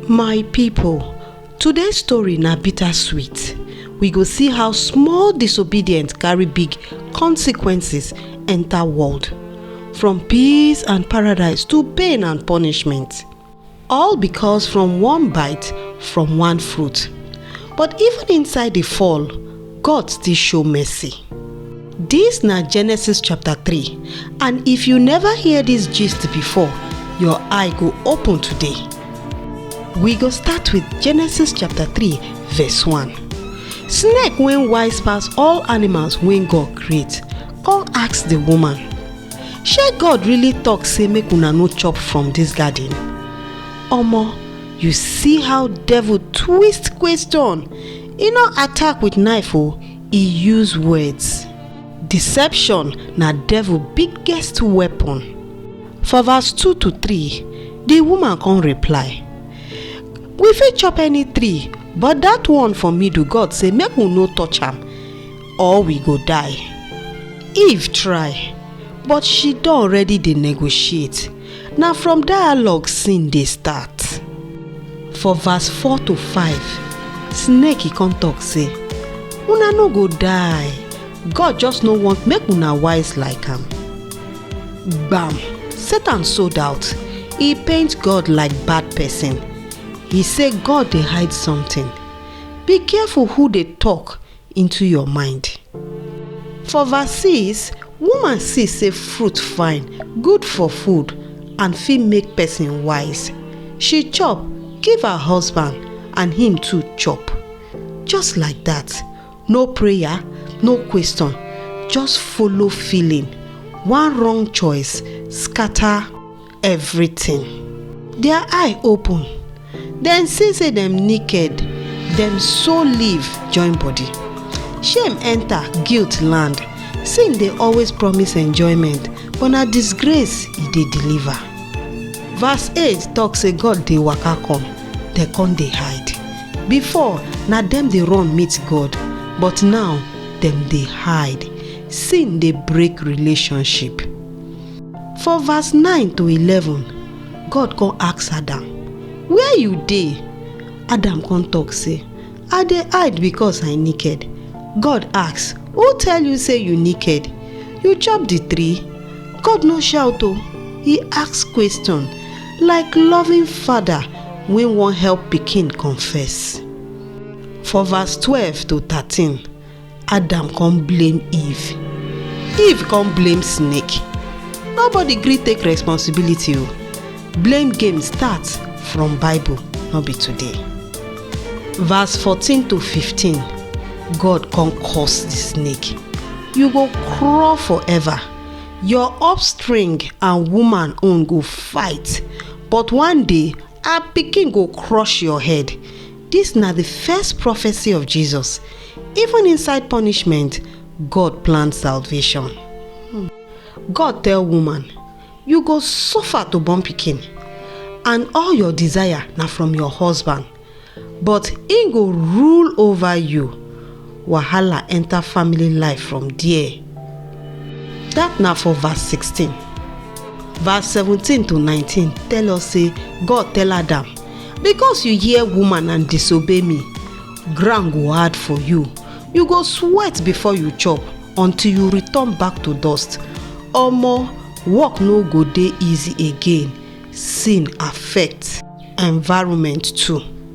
my people today's story na bittersweet we go see how small disobedience carry big consequences enter world from peace and paradise to pain and punishment All because from one bite from one fruit. But even inside the fall, God still show mercy. This na Genesis chapter 3 and if you never hear this gist before, your eye go open today. We go start with Genesis chapter 3 verse 1. Snake wey wise pass all animals wey God create, come ask the woman, shey god really talk say make una no chop from dis garden? omo you see how devil twist question e no attack with knife o e use words deception na devil biggest weapon for verse 2 to 3 di woman come reply we fit chop any tree but dat one for middle god say make we no touch am or we go die eve try but she don already dey negotiate na from dialogue sin dey start for verse 4 to 5 snake come talk say una no go die god just no want make una wise like am gbam satan sold out e paint god like bad person he say god dey hide something be careful who dey talk into your mind. For verse 6, woman see say fruit fine, good for food, and fit make person wise. She chop, give her husband, and him too chop. Just like that, no prayer, no question, just follow feeling. One wrong choice scatter everything. Their eye open, dem see say dem naked, dem so leave join body. Shame enter, guilt land. Sin dey always promise enjoyment, but na disgrace e dey deliver. Verse 8 talk say God dey waka come, dem come dey hide. Before, na dem dey run meet God, but now dem dey hide. Sin dey break relationship. For verse 9 to 11, God come ask Adam, Where you dey? Adam come talk say, I dey hide because I naked. God ask, Who tell you say you naked? You chop the tree? God no shout o, he ask question like loving father wey wan help pikin confess. For verse 12 to 13, Adam come blame Eve. Eve come blame snake. Nobody gree take responsibility o. Blame game start from Bible, no be today. Verse 14 to 15, God come curse the snake. You go crawl forever. Your offspring and woman own go fight, but one day her pikin go crush your head. Dis na di first prophecy of Jesus, even inside punishment, God plan salvation. God tell woman, You go suffer to born pikin, and all your desire na from your husband, but im go rule over you. wahala enter family life from there. Dat na for verse 16. Verse 17 to 19 tell us say God tell Adam, Because you hear woman and disobey me, ground go hard for you. You go sweat before you chop until you return back to dust. Omo, work no go dey easy again. Sin affect environment too.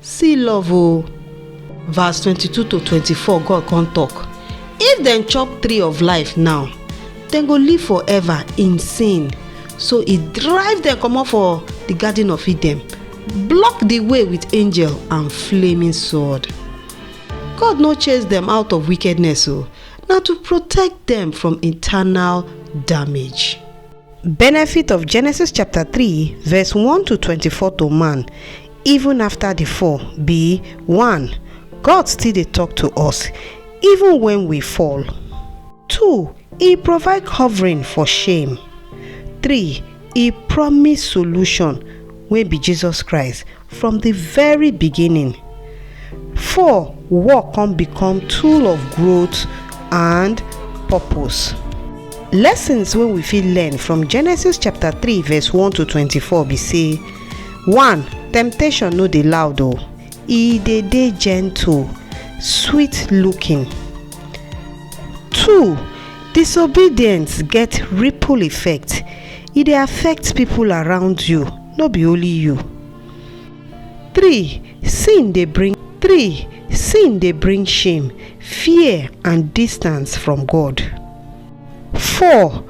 see love o verse 22 to 24 god come talk if dem chop tree of life now dem go live forever in sin so e drive dem comot for the garden of eden block the way with angel and flaming sword god no chase dem out of wickedness o na to protect dem from eternal damage Benefit of Genesis chapter 3 verse 1 to 24 to man even after the fall be 1. God still dey talk to us even when we fall. 2. He provide covering for shame. 3. He promise solution wey be Jesus Christ from the very beginning. Four, work come become tool of growth and purpose. Lessons wey we fit learn from Genesis chapter 3 verse 1 to 24 be say, 1. Temptation no dey loud o, e dey dey gentle, sweet looking. 2. Disobedience get ripple effect, e dey affect people around you. no be only you. Three, sin dey bring three, sin dey bring shame, fear and distance from God. Four,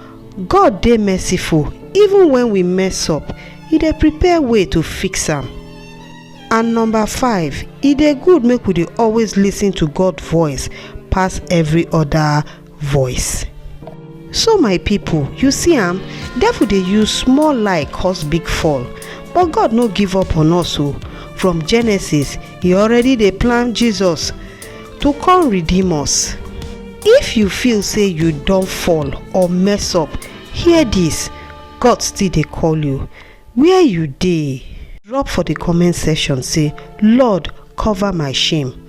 God dey merciful even when we mess up, e dey prepare way to fix am. And number five, e dey good make we dey always listen to God voice pass every other voice. So my people, you see am, devil dey use small lie cause big fall, but God no give up on us o. From Genesis, he already dey plan Jesus to come redeem us. If you feel say you don fall or mess up, hear this, God still dey call you. Where you dey? Drop for the comment section say, Lord, cover my shame.